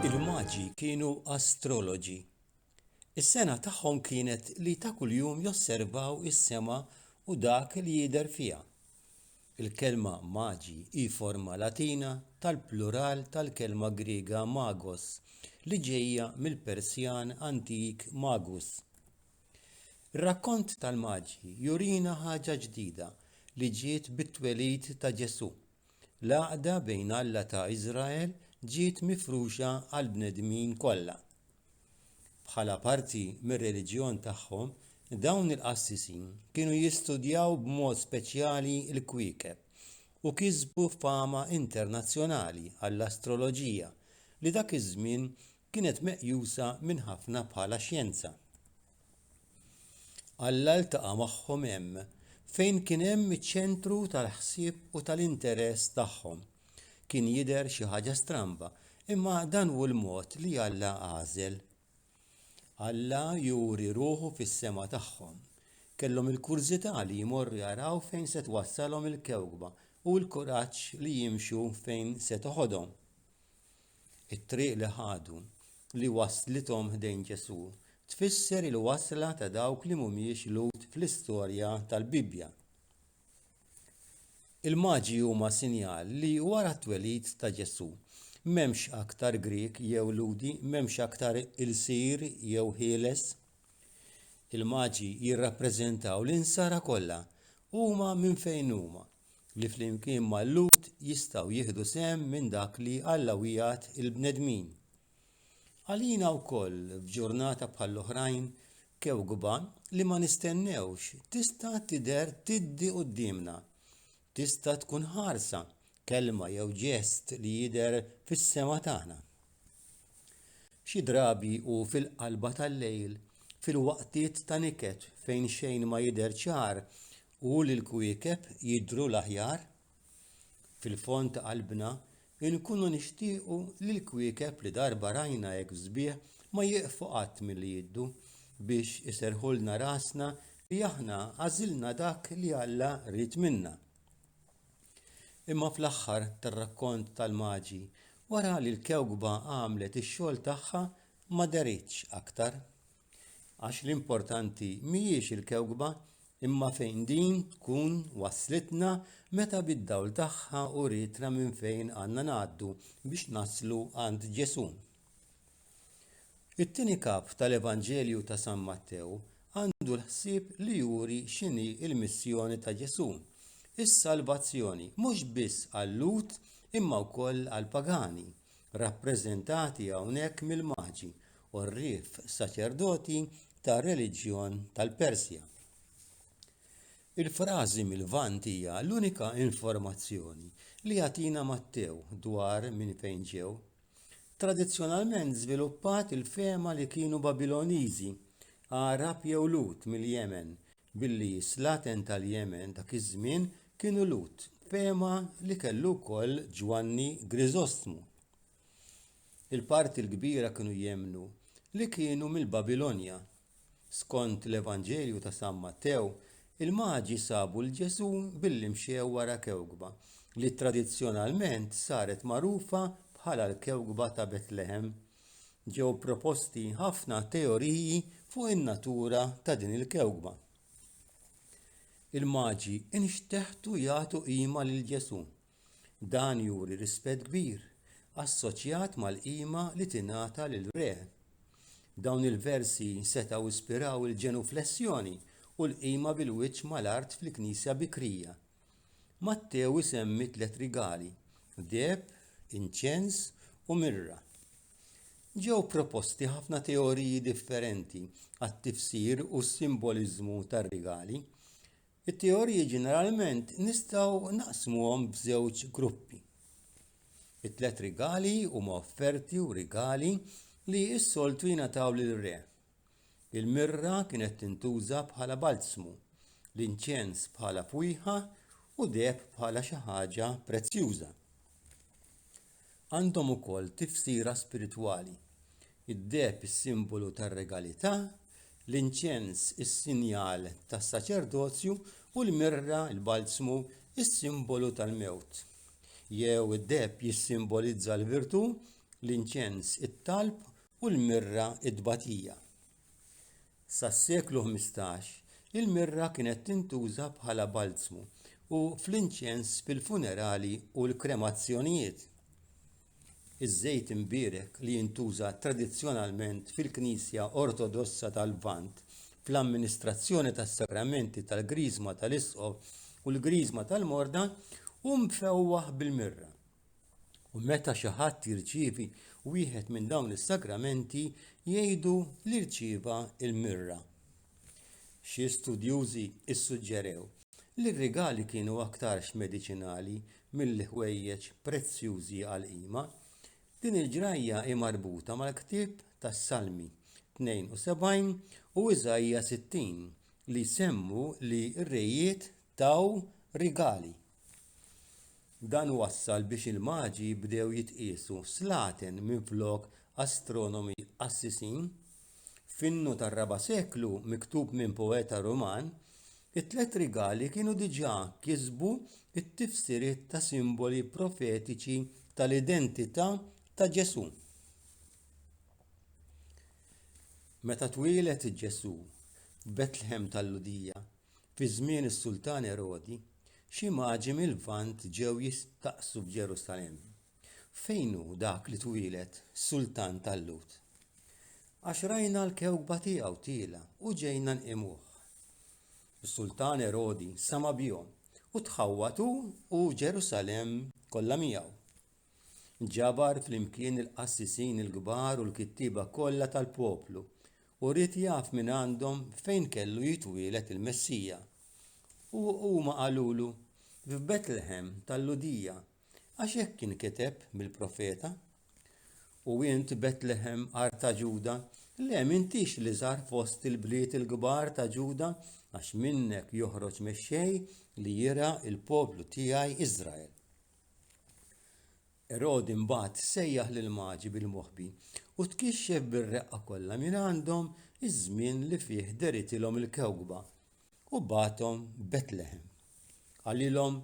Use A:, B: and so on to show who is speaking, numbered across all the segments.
A: Il-maġi kienu astroloġi. Is-sena tagħhom kienet li ta' kuljum josservaw is-sema u dak li jidher fiha. Il-kelma maġi hi forma Latina tal-plural tal-kelma Griega magos li ġejja mill-Persjan antik magus. Ir-rakkont tal-Maġi jurina ħaġa ġdida li ġiet bit-twelid ta' Ġesù. L-għaqda bejn Alla ta' Iżrael ġiet mifruxa għall-bnedmin kollha. Bħala parti mir-reliġjon tagħhom, dawn il-qassisin kienu jistudjaw b'mod speċjali l-kwiekeb u kisbu fama internazzjonali għall-astroloġija li dak iż-żmien kienet meqjusa minn ħafna bħala xjenza. Alla ltaqa' magħhom hemm fejn kien hemm iċ-ċentru tal-ħsieb u tal-interess tagħhom. Kien jidher xi ħaġa stramba, imma dan hu l-mod li Alla għażel. Alla juri ruħu fis-sema tagħhom. Kellhom il-kurżità li jmorru jaraw fejn se twassalhom il-kewkba u l-kuraġġ li jimxu fejn se toħodhom. It-triq li ħadu, li wasslithom ħdejn Ġesù, tfisser il-wasla ta' dawk li mhumiex Lhud fl-istorja tal-Bibbja. Il-maġi huma sinjal li wara t-twelid ta' Ġesù, m'hemmx aktar Grieg jew Lhudi, m'hemmx aktar ilsir jew ħieles. Il-maġi jirrappreżentaw l-insara kollha, huma minn fejn huma. li flimkien mal-Lhud jistgħu jieħdu sehem minn dak li Alla wiegħed il-bnedmin. Għalina wkoll, f'ġurnata bħall-oħrajn kewkba li ma nistennewx tista' tidher tiddi quddiemna. Tista' tkun ħarsa, kelma jew ġest li jidher fis-sema tagħna. Xi drabi u fil-qalba tal-lejl, fil-waqtiet ta' niket fejn xejn ma jidher ċar u li l-kwiekeb jidhru l-aħjar fil-fond ta' qalbna, inkunu nixtiequ li l-kwiekeb li darba rajna hekk f'sbieħ ma jieqfu qatt milli jidhru biex iserrħulna rasna li aħna għażilna dak li Alla ried minna. Imma fl-aħħar tar-rakkont tal-Maġi, wara li l-kewkba għamlet ix-xogħol tagħha ma deritx aktar. Għax l-importanti mhijiex il-kewkba imma fejn din tkun wasslitna meta bid-dawl tagħha urietna minn fejn għandna ngħaddu biex naslu għand Ġesù. It-tieni kap tal-Evanġelju ta' San Mattew għandu l-ħsieb li juri x'inhi l-missjoni ta' Ġesù, is-salvazzjoni mhux biss għal-Lhud imma wkoll għall-pagani, rappreżentati hawnhekk mill-Maġi, u r-Rif, saċerdoti tar-reliġjon tal-Persja. Il-frażi mill-Lvant hija l-unika informazzjoni li jagħtina Mattew dwar minn fejn ġew. Tradizzjonalment żviluppat il-fehma li kienu Babiloniżi, Għarab jew Lut mill-Jemen, billi s-slaten tal-Jemen dak iż-żmien kienu Lut, fehma li kellu wkoll Ġwanni Griżostmu. il-parti l-kbira kienu jemmnu li kienu mill-babilonja skont l-evanġelju ta' san mattew il-maġi sabu lil ġesù billi mxew wara kewkba li tradizzjonalment saret magħrufa bħala l-kewkba ta' betlehem ġew proposti ħafna teoriji fuq in-natura ta' din il-kewkba il-maġi nxteħtu jagħtu qima lil ġesù Dan juri rispett kbir, assoċjat mal-qima li tingħata lil Re. Dawn il-versi setgħu ispiraw il-ġenuflessjoni u l-qima bil-wiċċ mal-art fil-Knisja bikrija. Mattew isemmi tliet rigali, deheb, inċens u mirra. Ġew proposti ħafna teoriji differenti għat-tifsir u s-simboliżmu tar-rigali. It-teoriji ġeneralment nistgħu naqsmuhom f'żewġ gruppi. It-tliet rigali huma offerti u rigali li s-soltu jingħataw lir-re. Il-mirra kienet tintuża bħala balzmu, l-inċens bħala fwieħa u deheb bħala xi ħaġa prezzjuża. għandhom ukoll tifsira spiritwali id-deheb is-simbolu tar-regalità l-inċens is-sinjal tas-saċerdozju u l-mirra l-balzmu s-simbolu tal-mewt jew id-deheb jissimbolizza l-virtù l-inċens it-talb u l-mirra t-tbatija sas-seklu 15 il-mirra kienet tintuża bħala balzmu u fl-inċens fil-funerali u l-kremazzjonijiet iż-żejt imbierek li jintuża tradizzjonalment fil-knisja ortodossa tal-lvant fl-amministrazzjoni tas-sagramenti tal-griżma tal-isqof u l-griżma tal-morda hu mfewwaħ bil-mirra u meta xi ħadd jirċievi wieħed minn dawn is-sagramenti jgħidu li rċieva l-mirra. Xi studjużi ssuġġerew li r-rigali kienu aktarx mediċinali milli ħwejjeġ prezzjużi għal qima. Din il-ġrajja hi marbuta mal-ktieb tas-Salmi 72 u Iżajja 60 li jsemmu li r-rejiet taw rigali. Dan wassal biex il-Maġi bdew jitqiesu slaten minflok astronomi qassisin. F'innu tar-raba' seklu miktub minn poeta Ruman, it-tliet rigali kienu diġà kisbu t-tifsiriet ta' simboli profetiċi tal-identità ta' Ġesù. Meta twieled Ġesù f'Betlehem tal-Lhudija, Fi żmien is-Sultan Erodi, xi maġi mil-Lvant ġew jistaqsu f'Ġerusalemm, Fejn hu dak li twieled sultan tal-Lhud? Għax rajna l-kewkba tiegħu tiela' u ġejna nqimuh. Is-Sultan Erodi sama' bihom u tħawwad hu u Ġerusalemm kollha miegħu. Ġabar flimkien il-qassisin il-kbar u l-kittieba kollha tal-poplu u ried jaf minn għandhom fejn kellu jitwieled il-Messija. U huma qalulu, F'Betlehem tal-Ludija, għax hekk kien kiteb mill-profeta. U int Betlehem art ta' Ġuda, le m'intix li żar fost il-bliet il-kbar ta' Ġuda, għax minnek joħroġ mexxej li jira il-poplu tiegħi Iżrael. Erodi mbagħad sejjaħ lill-Maġi bil-moħbi u tkixxef bir-reqqa kollha mingħandhom iż-żmien li fih deritilhom il-kewkba, u bagħathom Betleħem. Qalilhom,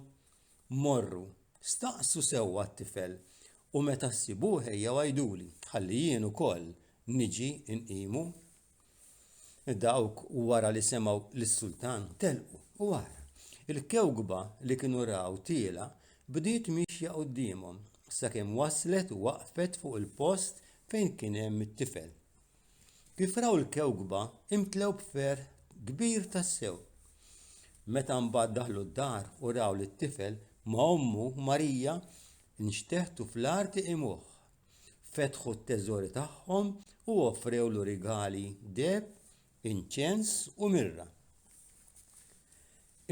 A: Morru, staqsu sewwa t-tifel, u meta ssibuh ejjew għiduli, ħalli jien ukoll niġi nqimu. Dawk wara li semgħu lis-sultan telqu u ara, il-kewkba li kienu raw tiela' bdiet miexja quddiemhom sakemm waslet u waqfet fuq il-post fejn kien hemm it-tifel. Kif raw il-kewkba imtlew b'ferħ kbir tassew. Meta mbagħad daħlu d-dar u raw lit-tifel ma' ommu Marija nxteħtu fl-art iqimuh. fetħu t-teżori tagħhom u offrewlu rigali, deheb, inċens u mirra.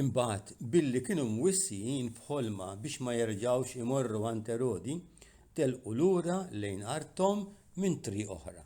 A: Imbagħad, billi kienu mwissijin f'ħolma biex ma jerġgħux imorru għand Erodi, telqu lura lejn arthom minn triq oħra.